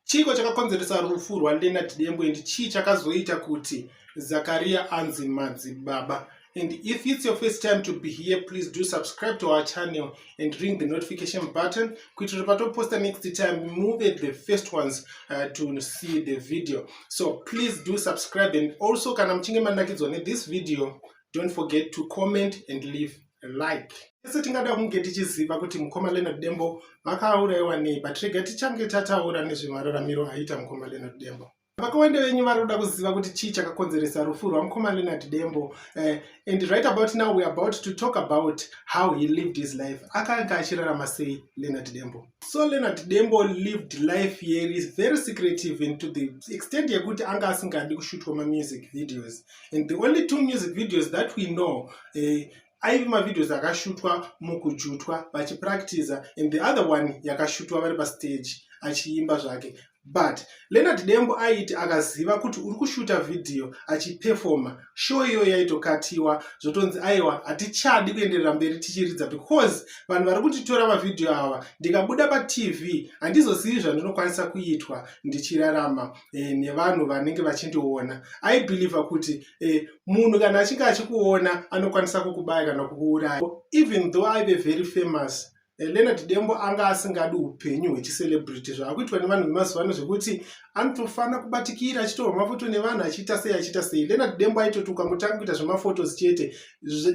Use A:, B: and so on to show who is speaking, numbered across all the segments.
A: Chiiko chakakonzeresa rufu rwaLeonard Dembo and chii chakazoita kuti Zakaria anzi madzibaba? And if it's your first time to be here, please do subscribe to our channel and ring the notification button. Kuitira patoposta next time, move the first ones uh, to see the video. So please do subscribe and also kana muchinge manakidzwa ne this video, don't forget to comment and leave a like ese tingada kunge tichiziva kuti mukoma leonard dembo vakauraiwa nei but rega tichange tataura nezvemararamiro aita mukoma leonard dembo vakawanda venyu vari kuda kuziva kuti chii chakakonzeresa rufu rwamukoma leonard dembo eh, and right about now weare about to talk about how he lived his life akanga achirarama sei leonard dembo so leonard dembo lived life yeri very secretive into the extent yekuti anga asingadi kushutwa mamusic videos and the only two music videos that we know eh, aive mavideos akashutwa mukujutwa vachipractiza and the other one yakashutwa vari pastage achiimba zvake but leonard dembo aiti akaziva kuti uri kushuta vhidhiyo achipefoma show iyoyo yaitokatiwa zvotonzi aiwa hatichadi kuenderera mberi tichiridza because vanhu vari kutitora mavhidhiyo ava ndikabuda patv handizozivi zvandinokwanisa kuitwa ndichirarama e, nevanhu vanenge vachindiona aibhilivha kuti e, munhu kana achinge achikuona anokwanisa kukubaya kana kukuuraya even though aive very famous Eh, leonard dembo anga asingadi upenyu hwecicelebrity zvaakuitwa nevanhu vemazuva ano zvekuti anotofanira kubatikira achitorwa mafoto nevanhu achiita sei achiita sei leonard dembo aitoti ukamutanga kuita zvemafotos chete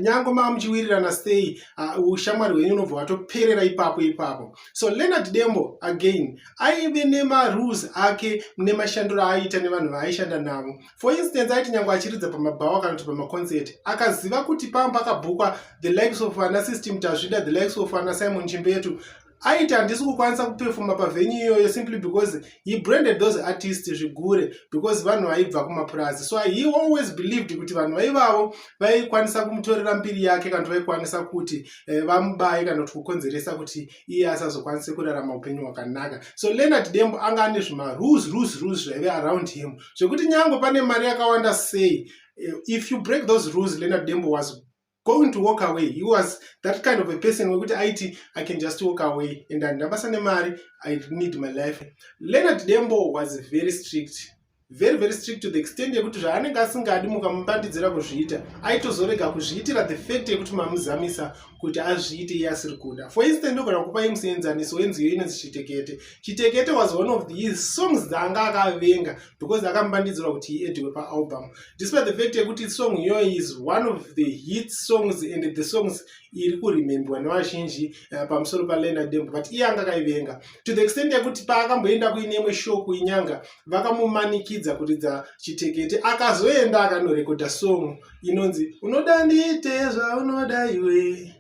A: nyange maa muchiwirirana sei ah, ushamwari hwenyu unobva watoperera ipapo ipapo so leonard dembo again aive nemarules ake nemashandiro aaiita nevanhu vaaishanda navo for instance aiti nyange achiridza pamabhawa kana kuti pamaconcert akaziva kuti pamba pakabhukwa the likes of ana system tazvida the likes of ana simon chimbetu aiti handisi kukwanisa kupefoma pavenyu iyoyo simply because he branded those artists zvigure because vanhu vaibva kumapurazi so he always believed kuti vanhu vaivavo vaikwanisa kumutorera mbiri yake kana kuti vaikwanisa kuti eh, vamubaye kana kuti kukonzeresa kuti iye asazokwanise kurarama upenyu hwakanaka so leonard dembo anga ane zvimarules rules rules zvaive around him zvekuti nyange pane mari yakawanda sei eh, if you break those rules leonard dembo was going to walk away he was that kind of a person wekuti aiti i can just walk away and andina basa nemari i need my life leonard dembo was very strict very very strict to the extent yekuti zvaanenge asingadi mukamupandidzira kuzviita aitozorega kuzviitira the fact yekuti mamuzamisa kuti azviite iye asiri kuda for instance ndogona kupai museenzaniso wenziyo inonzi chitekete chitekete was one of the songs dzaanga akavenga because akamupandidzirwa kuti iediwe paalbum despite the fact yekuti song iyoyo is one of the hit songs and the songs iri kuremembewa nevazhinji uh, pamusoro paleonard dembo but iye anga akaivenga to the extent yekuti paakamboenda kuine imwe show kuinyanga vakamumanikidza kuridza chitekete akazoenda akanorekodha song inonzi unoda ndiite zvaunoda iwe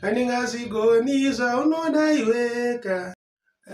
A: andingazvigoni zvaunoda iweka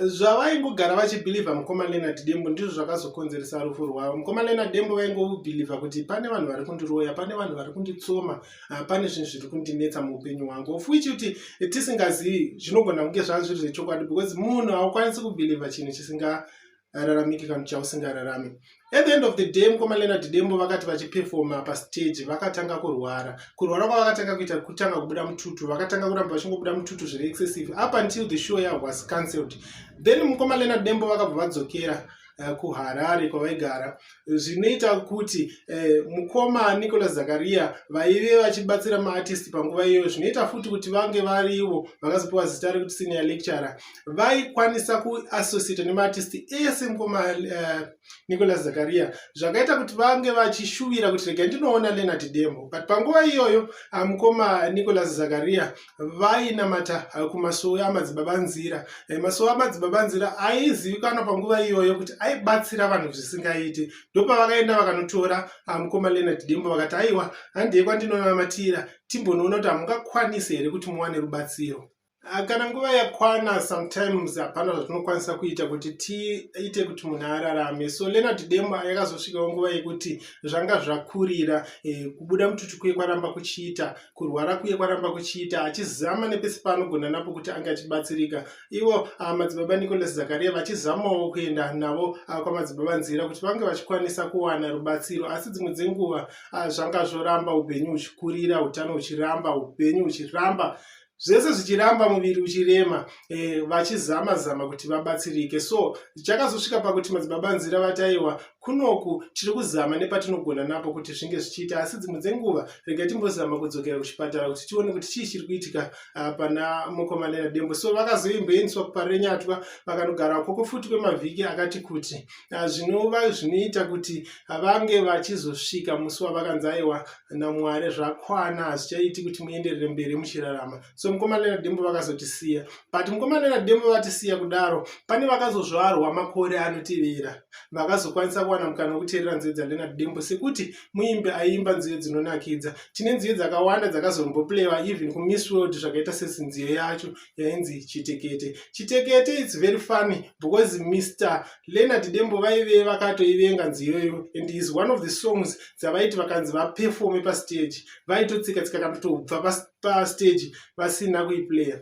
A: zvavaingogara vachibhilivha mukoma leonard dembo ndizvo zvakazokonzeresa rufu rwavo mukoma leonard dembo vaingobhilivha kuti pane vanhu vari kundiroya pane vanhu vari kunditsoma ah, pane zvinhu zviri kundinetsa muupenyu hwangu of which kuti tisingazivi zvinogona kunge zvazviri zvechokwadi because munhu haukwanisi kubhilivha chinhu chisinga hararamiki kana chausingararami at the end of the day mukoma leonard dembo vakati vachipefoma pastage vakatanga kurwara kurwara kwavakatanga kuita kutanga kubuda mututu vakatanga kuramba vachingobuda mututu zviri excessive up until the show yavo was cancelled then mukoma leonard dembo vakabva vadzokera uh, kuharare kwavaigara zvinoita kuti eh, mukoma nicolas zakaria vaive vachibatsira maartist panguva iyoyo zvinoita futi kuti vange varivo vakazopiwa zita rekuti senior lecturer vaikwanisa kuassociata nemaartist ese mukoma eh, nicolas zakaria zvakaita kuti vange vachishuvira kuti rega ndinoona leonard demo but panguva iyoyo ah, mukoma nicolas zakaria vainamata eh, kumasowe amadzibaba nzira eh, masowe amadzibaba nzira aizivikanwa panguva iyoyo kuti aibatsira vanhu zvisingaiti ndopavakaenda vakanotora ah, mukoma leonard dembo vakati aiwa handei kwandinonamatira timbonoona kuti hamungakwanisi here kuti muwane rubatsiro Ah, kana nguva yakwana sometimes hapana zvatinokwanisa kuita kuti tiite kuti munhu ararame so leonard demo yakazosvikawo nguva yekuti zvanga zvakurira eh, kubuda mututu kuye kwaramba kuchiita kurwara kuye kwaramba kuchiita achizama nepesi paanogona napo kuti ange achibatsirika ivo ah, madzibaba nicolas zakaria vachizamawo kuenda navo ah, kwamadzibaba nzira kuti vange vachikwanisa kuwana rubatsiro asi dzimwe dzenguva ah, zvanga zvoramba upenyu huchikurira utano huchiramba upenyu huchiramba zvese zvichiramba muviri uchirema e, vachizama zama kuti vabatsirike so chakazosvika pakuti madzibaba nzira vataiwa kunoku tiri kuzama nepatinogona napo kuti zvinge zvichiita asi dzimwe dzenguva rega timbozama kudzokera kuchipatara kuti tione kuti chii chiri kuitika ah, pana mukomanera dembo so vakazoimboendiswa kuparenyatwa vakanogara koko futi kwemavhiki akati kuti ah, zvinova zvinoita kuti ah, vange vachizosvika musi wavakanzi aiwa namwari zvakwana hazvichaiti kuti muenderere mberi muchirarama so mukomana nadembo vakazotisiya but mukomana nadembo vatisiya kudaro pane vakazozvarwa makore anotevera vakazokwanisa kuwana mukana wekuteerera nziyo dzandena dembo sekuti muimbi aiimba nziyo dzinonakidza tine nziyo dzakawanda dzakazomboplewa even kumiss world zvakaita sesinziyo yacho yainzi chitekete chitekete its very funny because mr leonard dembo vaive vakatoivenga nziyoyo and is one of the songs dzavaiti vakanzi vapefome pastage vaitotsika tsika kandotobva pa pastage vasina kuiplayer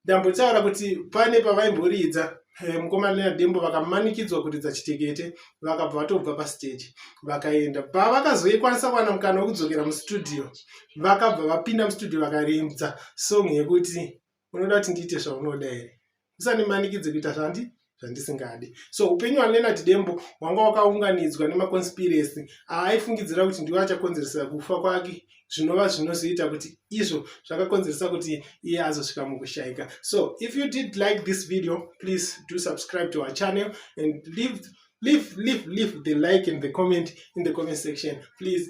A: ndambotaura kuti pane pavaimboridza eh, mukomana nadembo vakamanikidzwa kuridza chitekete vakabva vatobva pastage vakaenda pavakazoikwanisa kuwana mukana wekudzokera mustudio vakabva vapinda mustudio vakarinza song yekuti unoda kuti ndiite zvaunoda here musandimanikidze kuita zvandi zvandisingadi so upenyu hwalenard dembo hwanga wakaunganidzwa nemaconspiracy aaifungidzira kuti ndiwo achakonzeresa kufa kwake zvinova zvinozoita kuti izvo zvakakonzeresa kuti iye azosvika mukushaika so if you did like this video please do subscribe to our channel and leave leave leave leave the like and the comment in the comment section please